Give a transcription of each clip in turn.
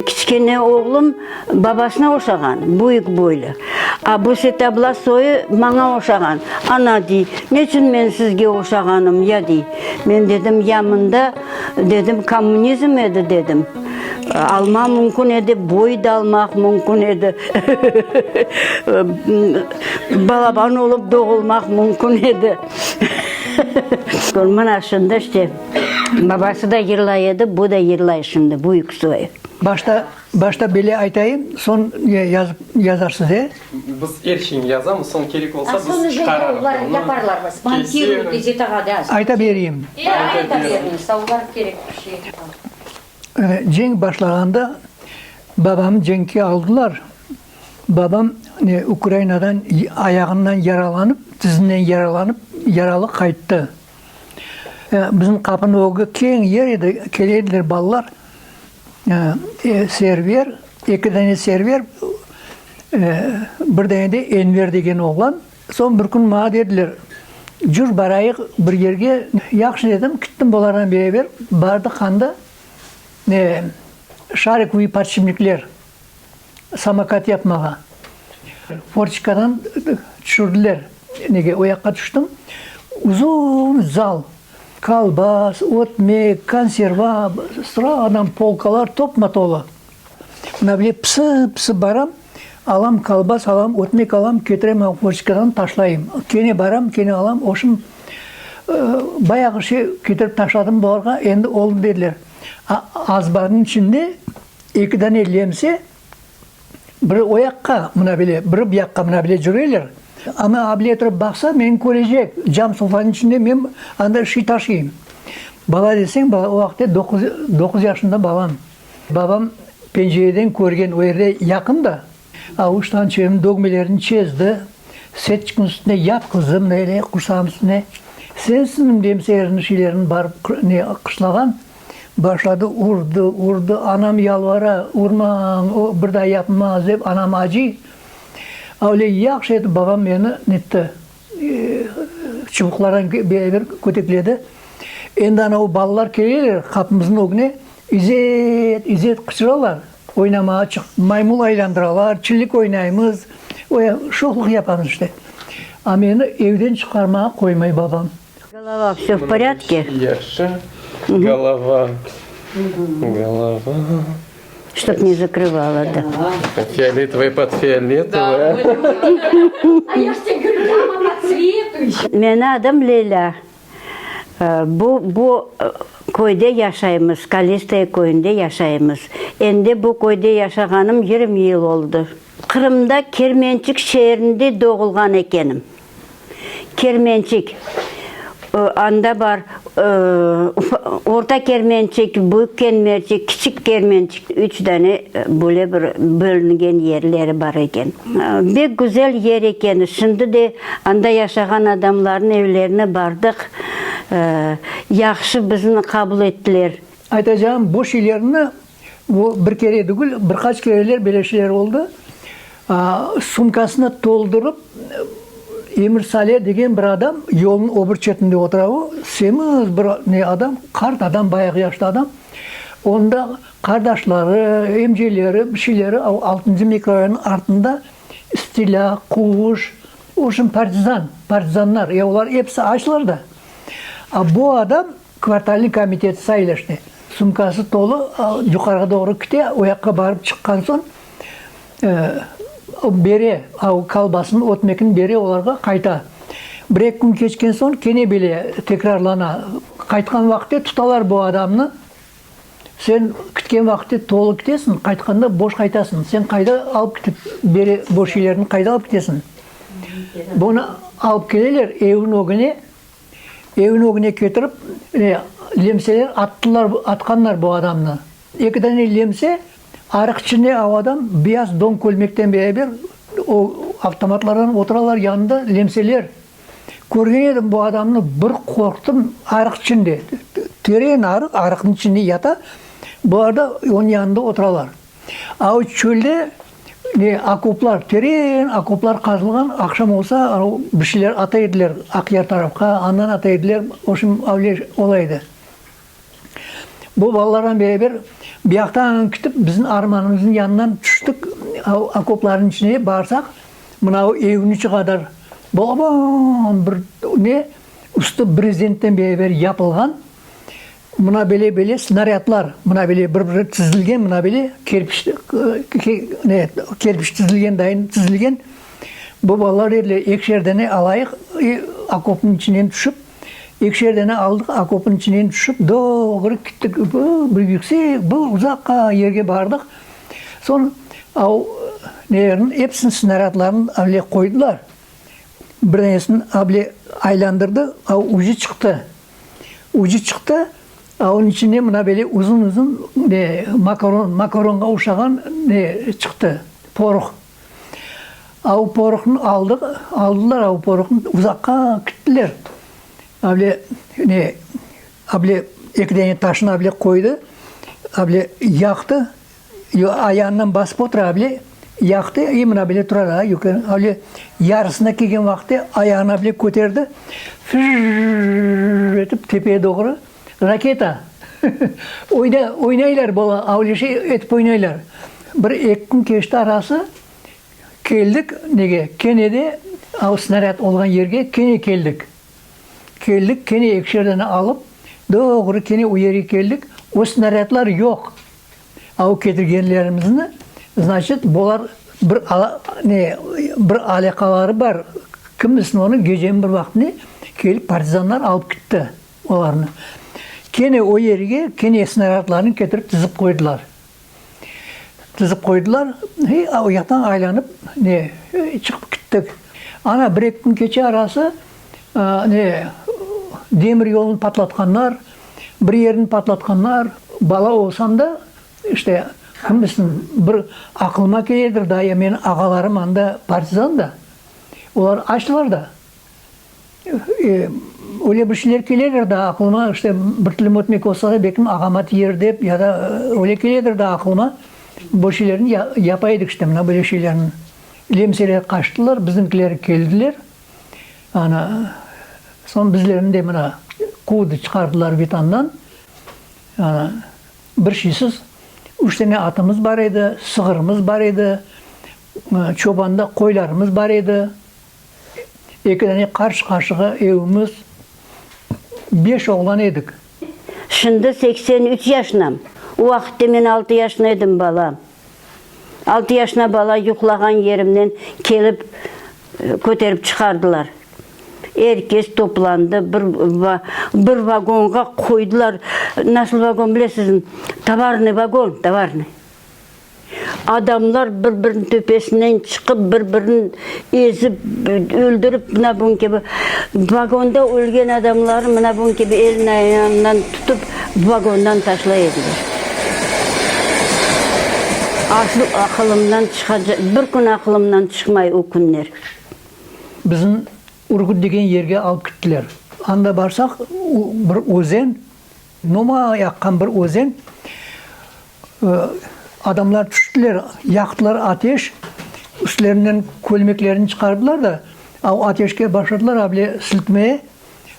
Kiçkene oğlum babasına oşağan, büyük boylu. A bu Setabla soyı maña oşağan. Ana, dey, neçün men sizge oşağanım, ya, dey. Men dedim, ya mında, dedim, kommunizm edi, dedim. Almaq mümkün edi, boy da almaq mümkün edi. Balaban olıp doğulmaq mümkün edi. Mına şunda işte, babası da yırlay edi, bu da yırlay şimdi, büyük soy. Başta, başta bile aytayım, soñ yazıp, yazarsız, e? Biz er şeyni yazamız, soñ kerek olsa biz çıqararız bunı. Yaparlar mı? Spontiruyu gazetağa yaz. Ayta bereyim. E, ayta beriñiz, olar kerek bir şey. Cenk başlağanda babamnı cenkke aldılar. Babam Ukrainadan ayağından yaralanıp, tizinden yaralanıp, yaralı qayttı. Bizim qapınıñ ögü keñ yer edi, kele ediler balalar, Server, eki dane Server, bir dane de Enver degen oğlan. Soñ bir kün maña dediler, Cür, barayıq bir yerge. Yahşı dedim, kittim bularnen beraber. Bardıq anda Şarikoviy podşipnikler. samokat yapmağa. Forçikadan tüşürdiler. Nege o yaqqa tüştim, uzun zal, kolbas, ötmek, konserva, sıradan polkalar topma-tola. Mına böyle pısı-pısı baram, alam kolbas, alam ötmek alam, ketirem forçikadan taşlayım. Kene baram, kene alam, oşum bayağı şey ketirip taşladım bularğa, endi oldı, dediler. Azbarnıñ içinde Eki dane lemse, biri o yaqqa, mına bile, biri bu yaqqa, mına bile cüreyler. Ana abile turıp baqsa, meni körecek, cam sofanıñ içinde men anda şiy taşıyım. Bala deseñ, bala, o vaqıtta doquz, doquz yaşında balam. Babam pencereden körgen, o yerde yaqın da. Avuştan çevirim dogmelerini çezdi. Setçikniñ üstüne yat, qızım, böyle, qursağım üstüne. Sensiñmi? Demse, erini şilerini barıp ne qışlağan. Başladı, urdı, urdı. Anam yalvara, urmañ, o bir daa yapmaz, dep, anam acıy. Öyle yahşı etip babam meni netti, çubuqlardan beraber kötekledi. Endi anavu balalar keleler qapımıznıñ ögüne, İzet, İzet, qıçıralar. Oynamağa çıqıp, maymul aylandıralar, çillik oynaymız, öyle şoqluq yapamız işte. A meni evden çıqarmağa qoymay babam. Golova, vse v porâdke? Yaşı, golova, golova. Ştob ne zakrıvala, da. Fioletovoy pod fioletovoy. Meni adım Lelâ. Bu, bu köyde yaşaymız, Kalistaya köyünde yaşaymız. Endi bu köyde yaşağanım yirmi yıl oldı. Qırımda Kermençik şeerinde doğulğan ekenim. Kermençik, anda bar, Orta Kermençik, Büyük Kermençik, Kiçik Kermençik. Üç dane böyle bir bölüngen yerleri bar eken. Bek güzel yer eken. Şimdi de anda yaşağan adamlarnıñ evlerine bardıq. Yahşı bizni qabul ettiler. Aytacağım, bu şeylerni, bu bir kere degil, bir qaç kereler böyle şeyler oldı. Sumkasını toldurıp, Emir Sale degen bir adam yolnıñ öbür çetinde otura. O, semiz bir ne adam, qart adam, bayağı yaşlı adam. Onda qardaşları, emceleri, bir şeyleri o altıncı mikrorayonıñ artında stilâ, quvuş, o şun partizan, partizanlar, ya olar episi açlar da. A bu adam Kvartalniy komitet sayleşti. Sumkası tolu yuqarığa doğru kite, oyaqqa barıp çıqqan soñ, bere, o kolbasnı ötmekni bere olarğa qayta. Bir-eki kün keçken soñ kene bile tekrarlana. Qaytqan vaqıtte tutalar bu adamnı, sen kütken vaqıtte tolu kitesiñ, qaytqanda boş qaytasıñ, sen qayda alıp kitip bere bu şeylerni qayda alıp kitesiñ? Bunı alıp keleler, eviñ ögüne Evniñ ögüne ketirip, e, lemseler attılar, atqanlar bu adamnı. Eki dane lemse, arıq içinde o adam beyaz don kölmekten beraber, o avtomatlardan oturalar yanında lemseler. Körgen edim bu adamnı, bir qorqtım, arıq içinde, teren arıq, arıqnıñ içinde yata, bular da onıñ yanında oturalar. A o çölde ne, okoplar, teren okoplar qazılğan, aqşam olsa, o bir şeyler ata ediler Aqyar tarafqa, andan ata ediler, oşun avle ola edi. Bu balalarnen beraber buyaqtan kitip, bizim armanımıznıñ yanından tüştik, a o okoplarnıñ içine barsaq, mına o evniñ içi qadar balaban bir ne, üstü brezentten beraber yapılğan, Mına bele-bele snaryadlar, mına bele bir-biri tizilgen, mına bele kerpiç, ne, kerpiç tizilgen dayın tizilgen. Bu balalar dediler, ekişer dane alayıq, i, okopnıñ içinen tüşip, ekişer dane aldıq, okopnıñ içinen tüşip, doğru kettik, bu, bir yüksek, bir uzaqqa yerge bardıq. Soñ av, nelerniñ episini, snaryadlarnıñ avle qoydılar. Bir danesini avle aylandırdı, av ucı çıqtı. Ucı çıqtı, a onıñ içinde mına böyle uzun-uzun ne, makaron, makaronğa oşağan ne çıqtı, poruh. A o poruhnı aldı, aldılar, a o poruhını uzaqqa kittiler. A böyle ne, a böyle eki dane taşnı a böyle qoydı, a böyle yaqtı. Yo, ayağından basıp otura, a bile yaqtı, i mına bile tura da, yuqı, a bile yarısına kelgen vaqıtı ayağını a bile köterdi, fırrrrrrrr etip tepeye doğru, raketa! Oyna, oynaylar bala, a bile şey etip oynaylar. Bir eki kün keçti arası, keldik nege, kene de a o snarâd olğan yerge kene keldik. Keldik, kene ekşerden alıp, doğru kene o yerge keldik, o snarâdlar yoq, Aw ketirgenlerimizni, znaçıt, bolar bir ne, bir alâqaları bar, kim bilsin onı, geceniñ bir vaqtında kelip partizanlar alıp kitti olarnı. Kene o yerge, kene snaradlarnı ketirip tizip qoydılar. Tizip qoydılar, he, oyaqtan aylanıp, ne, çıqıp kittik. Ana bir-eki kün keçe arası, ne, demir yolnı patlatqanlar, Bir yerini patlatqanlar, bala olsam da, işte, kim bilsin, bir aqılıma keledir da, ya meniñ ağalarım anda partizan da, olar açtılar da. E, öyle bir şeyler keledir da aqılıma, işte, bir tilim ötmek olsa da, belki ağama tiyer dep, ya da öyle keledir da aqılıma, bu şeylerni ya, yapa edik işte, mına böyle şeylerni. Lemseler qaçtılar, bizimkiler keldiler. Ana, soñ bizlerni de mına quvdı, çıqardılar Vitandan. Ana, bir şeysiz, üç tane atımız bar edi, sığırımız bar edi, çobanda qoylarımız bar edi, eki tane qarşı-qarşığa evimiz, beş oğlan edik. Şimdi seksen üç yaşnam. O vaqitte men altı yaşna edim, bala. Altı yaşna bala yuqlağan yerimnen kelip köterip çıqardılar. Er kes toplandı, bir bir vagonğa qoydılar. Nasıl vagon bilesizmi? Tovarnıy vagon, tovarnıy. Adamlar bir-biriniñ töpesinden çıqıp, bir-birini ezip, öldürip, mına bugün kibi, vagonda ölgen adamlarnı mına bugün kibi elin-ayağından tutıp, vagondan taşlay ediler. Aslıq aqılımdan çıqa, bir kün aqılımdan çıqmay o künler. Bizni Urgut degen yerge alıp kittiler. Anda barsaq, bir özen, Nomay aqqan bir özen. Adamlar tüştiler, yaqtılar ateş, üstlerinden kölmeklerini çıqardılar da, o ateşke başladılar avle siltmeye,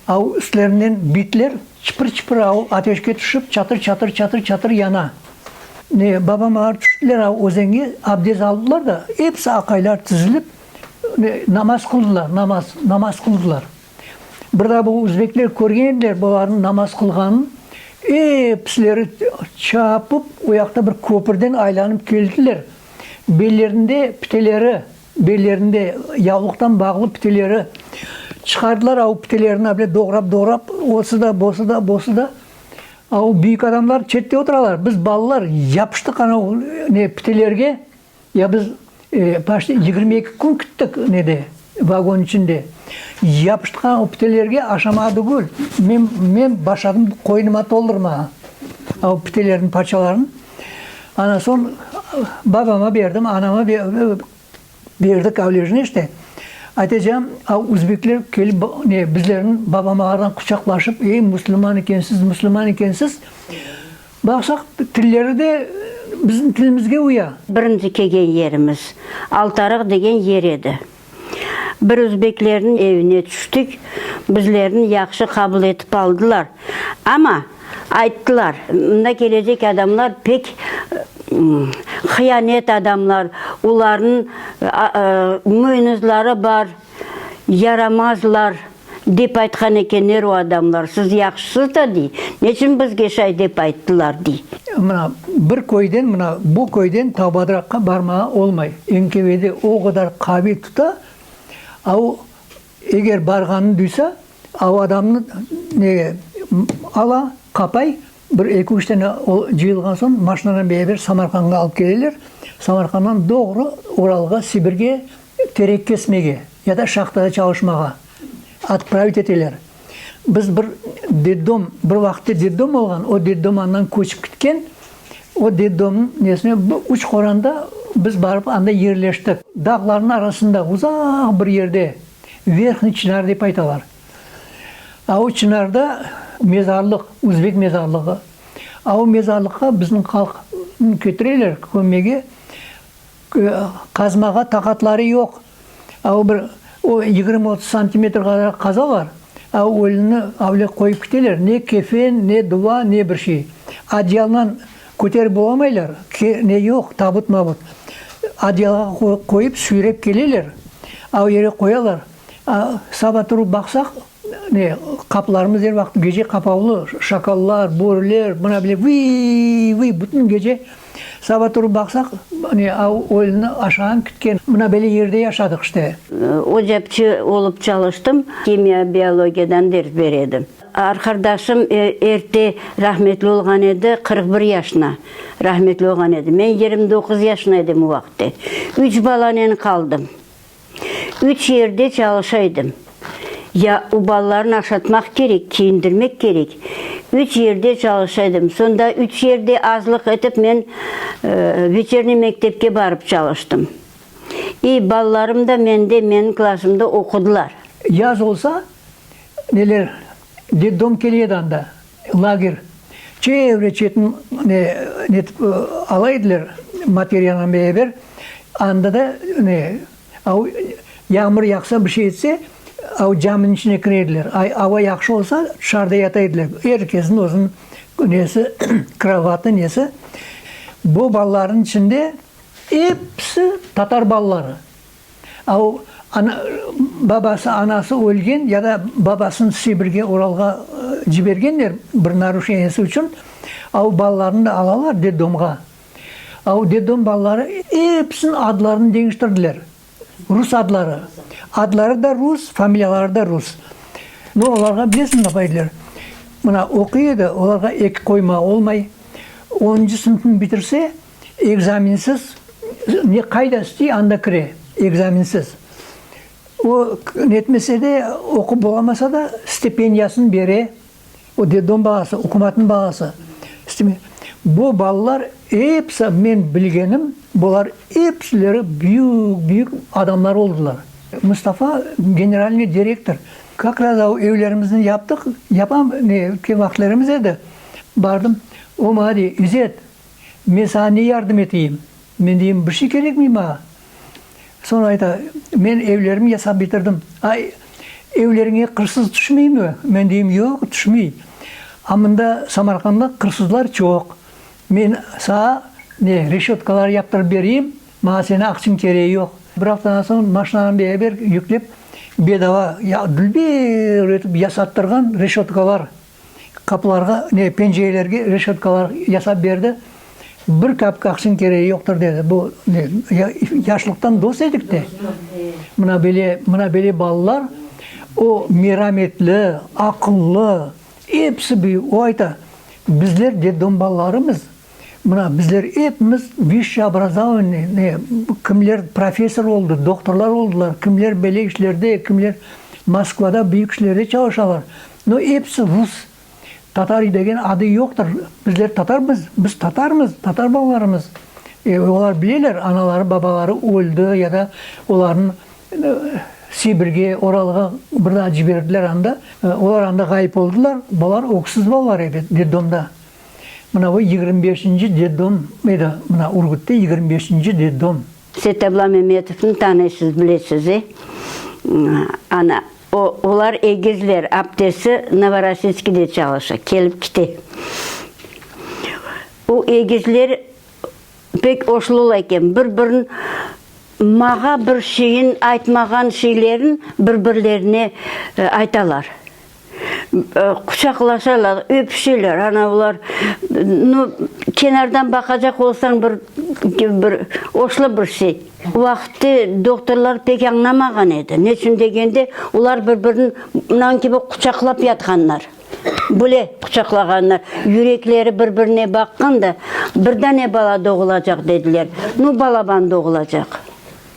o üstlerinden bitler çıpır-çıpır o ateşke tüşip, çatır-çatır, çatır-çatır yana. Ne, babam ağır tüştiler o özenge, abdest aldılar da, episi aqaylar tizilip, ne, namaz qıldılar, namaz, namaz qıldılar. Bir daa bu uzbekler körgen ediler bularnıñ namaz qılğanın, epsileri çapıp o yaqta bir köpürden aylanıp keldiler. Bellerinde piteleri, bellerinde yavluqtan bağlı piteleri çıqardılar, a o pitelerini böyle doğrap-doğrap osı da, bosı da, bosı da. A o büyük adamlar çette oturalar, biz balalar yapıştıq ana o ne pitelerge, Ya biz paşni yigirmi eki kün küttik nede, vagon içinde. Yapıştqan o pitelerge aşama tügül, men, men başladım qoynuma toldurmağa a o pitelerniñ parçalarını. Ana soñ babama berdim, anama berdik avlejniy işte. Atecan, a uzbekler kelip ne, bizlerni babamlardan quçaqlaşıp, ey, müslüman ekensiz, müslüman ekensiz, Baqsaq tilleri de bizim tilimizge uya. Birinci kelgen yerimiz Altarıq degen yer edi. Bir özbeklerniñ evine tüştik. Bizlerni yahşı qabul etip aldılar. Amma ayttılar, mında kelecek adamlar pek hıyanet adamlar, olarnıñ muynuzları bar, yaramazlar. Dep aytqan ekenler o adamlar, siz yahşısız da, dey, neçün bizge şay dep ayttılar, dey. Mına, bir köyden, mına, bu köyden ta Badıraqqa barmağa olmay, NKVD o qadar qaviy tuta, a o, eger barğanını duysa, a o adamnı, ne, ala, qapay, Bir eki-üç tane o cıyılğan soñ maşinanen beraber Samarqandğa alıp keleler, Samarqanddan doğru Uralğa, Sibirge terek kesmege ya da şahtada çalışmağa otpravit eteler. Biz bir detdom, bir vaqıtta detdom olğan, o detdom andan köçip ketken, o detdomnıñ nesine bu Uçqoranda biz barıp anda yerleştik. Dağlarnıñ arasında uzaq bir yerde, Verhnıy Çinar dep aytalar. Avu Çınarda mezarlıq, Uzbek mezarlığı. Avu mezarlıqqa bizim halq ketireler kömege, qazmağa taqatları yoq. Avu bir o yigirmi otuz santimetr qadar qazalar, avu ölünni avle qoyıp kiteler, ne kefen, ne duva, ne bir şey. Adyaldan köterip bolamaylar, ne yoq, tabut-mabut. Adyalğa qoyıp, süyrep keleler, avu yere qoyalar. Saba turıp baqsaq, ne, qapılarımız er vaqıt gece qapavlı, şakallar, börüler, mına bile vıy-vıy, bütün gece. Saba turıp baqsaq, ne, oyunını aşağan, kütken, mına böyle yerde yaşadıq işte. Ocapçı olıp çalıştım, kimya, biologiyadan ders ber edim. Arqardaşım erte rahmetli olğan edi, qırq bir yaşına rahmetli olğan edi. Men yigirmi doquz yaşına edim o vaqıtte. Üç balanen qaldım. Üç yerde çalışa edim. Ya o balalarnı aşatmaq kerek, kiyindirmek kerek. Üç yerde çalışa edim. Sonda üç yerde azlıq etip men veçerniy mektepke barıp çalıştım. İ balalarım da mende, meniñ klasımda oqudılar. Yaz olsa, neler? Detdom keledi anda, lager. Çevre çetni ne, netip ala ediler, materiyanen beraber. Anda da ne, av, yağmur yağsa, bir şey etse, av caminiñ içine kire ediler. Ava yahşı olsa, tışarıda yata ediler. Er kesniñ özüniñ nesi, krovatı, nesi. Bu balalarnıñ içinde episi tatar balaları. A o, ana, babası, anası ölgen ya da babasını Sibirge, Uralğa cibergenler bir naruşeniyesi içün. A o, balalarını da alalar detdomğa. A o, detdom balaları episiniñ adlarını deñiştirdiler. Rus adları. Adları da rus, familiyaları da rus. No, olarğa bilesiñ napa ediler? Mına, oquy edi, olarğa eki qoyma olmay. Onıncı sınıfnı bitirse, Ekzaminsiz ne qayda istiy, anda kire, ekzaminsiz. O, netmese de, oqup olamasa da, stipendiyasını bere, o, detdom balası, ukumatnıñ balası. Bu balalar episi, men bilgenim, bular episileri büyük-büyük adamlar oldılar. Mustafa, generalniy direktor, kak raz evlerimizni yaptıq, yapam, ne, vaqıtlarımız edi, bardım, o, maña dey, İzet, Men saña ne yardım eteyim? Men deyim, bir şey kerekmey maña. Soñ ayta, men evlerimi yasap bitirdim. A evleriñe qırsız tüşmeymi? Men deyim, yoq, tüşmey. A mında Samarqanda qırsızlar çoq. Men saña ne, reşötkalar yaptırıp bereyim, maña seni aqçıñ kereği yoq. Bir aftadan soñ maşinağa beraber yüklep, bedava, ya dülber etip yasattırğan reşötkalar. Qapılarğa, ne, pencerelerge reşetkalar yasap berdi. Bir kapkaksnıñ kereği yoqtır, dedi. Bu, ne, ya, yaşlıqtan dost edik de, mına böyle, mına böyle balalar, o, merametli, aqıllı, episi büyük, o ayta, bizler detdom balalarımız. Mına, bizler epimiz vişşe obrazovannıy, kimler professor oldı, doktorlar oldılar, kimler böyle işlerde, kimler Moskvada büyük işlerde çalışalar. No, episi rus. Tatar degen adı yoqtır. Bizler tatarmız, biz tatarmız, tatar balalarımız. E, olar bileler, anaları, babaları öldi ya da olarnı Sibirge, Oralğa bir daa ciberdiler anda. Olar anda ğayıp oldılar, bular öksüz balalar edi, detdomda. Mına o yigirmi beşinci detdom edi, mına Ürgütte yigirmi beşinci detdom. Setabla Memetovnı tanıysız, bilesiz, e? Ana, o, olar egizler, aptesi Novorossiyskide çalışa, kelip kite. O egizler pek oşlular eken, bir-birin, mağa bir şeyin aytmağan şeylerin bir-birlerine aytalar. Quçaqlaşalar, öpüşeler, ana bular. Nu, kenardan baqacaq olsañ, bir, bir oşlı bir şey. O vaqıtte doktorlar pek añlamağan edi. Ne içün degende, olar bir-birini mınan kibi quçaqlap yatqanlar. Bile quçaqlağanlar. Yürekleri bir-birine baqqan da, bir dane bala doğulacaq, dediler. Nu, balaban doğulacaq.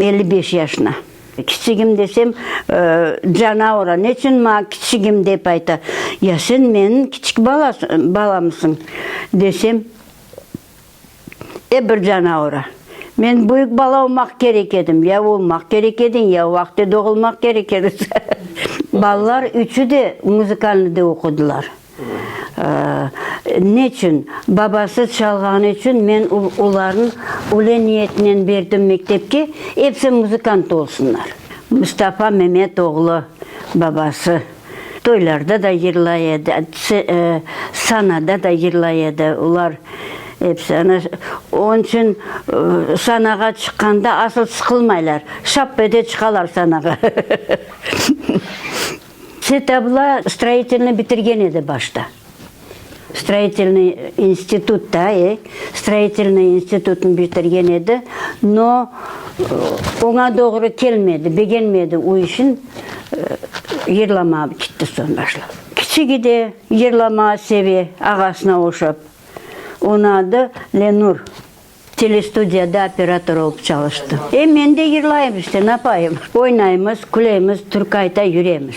Elli beş yaşına. Kiçigim desem, cana ura, neçün maña kiçigim dep ayta? Ya sen menim kiçik balamsıñ? desem, e bir cana ura. Men büyük bala olmaq kerek edim, ya olmaq kerek ediñ, ya vaqıtı doğulmaq kerek edi. Balalar üçü de muzıkalnıde oqudılar. Neçün? Babası çalğanı içün men olarnı öyle niyetinen berdim mektepke, episi muzıkant olsunlar. Mustafa Memet oğlu, babası toylarda da yırlay edi, sanada da yırlay edi, olar episi. Ana, onıñ içün sanağa çıqqanda asıl sıqılmaylar, şap ete çıqalar sanağa. Set abla stroyitelniy bitirgen edi başta. Stroyitelniy institut da, e, stroyitelniy institutnı bitirgen edi, no, oña doğru kelmedi, begenmedi, o işin yırlamağa ketti soñ başlap. Kiçigi de yırlamağa seve, ağasına oşap. Onı adı Lenur. Telestudiyada operator olıp çalıştım. E, men de yırlayım işte, napayım. Oynaymız, külemiz, türkayta yüremiz.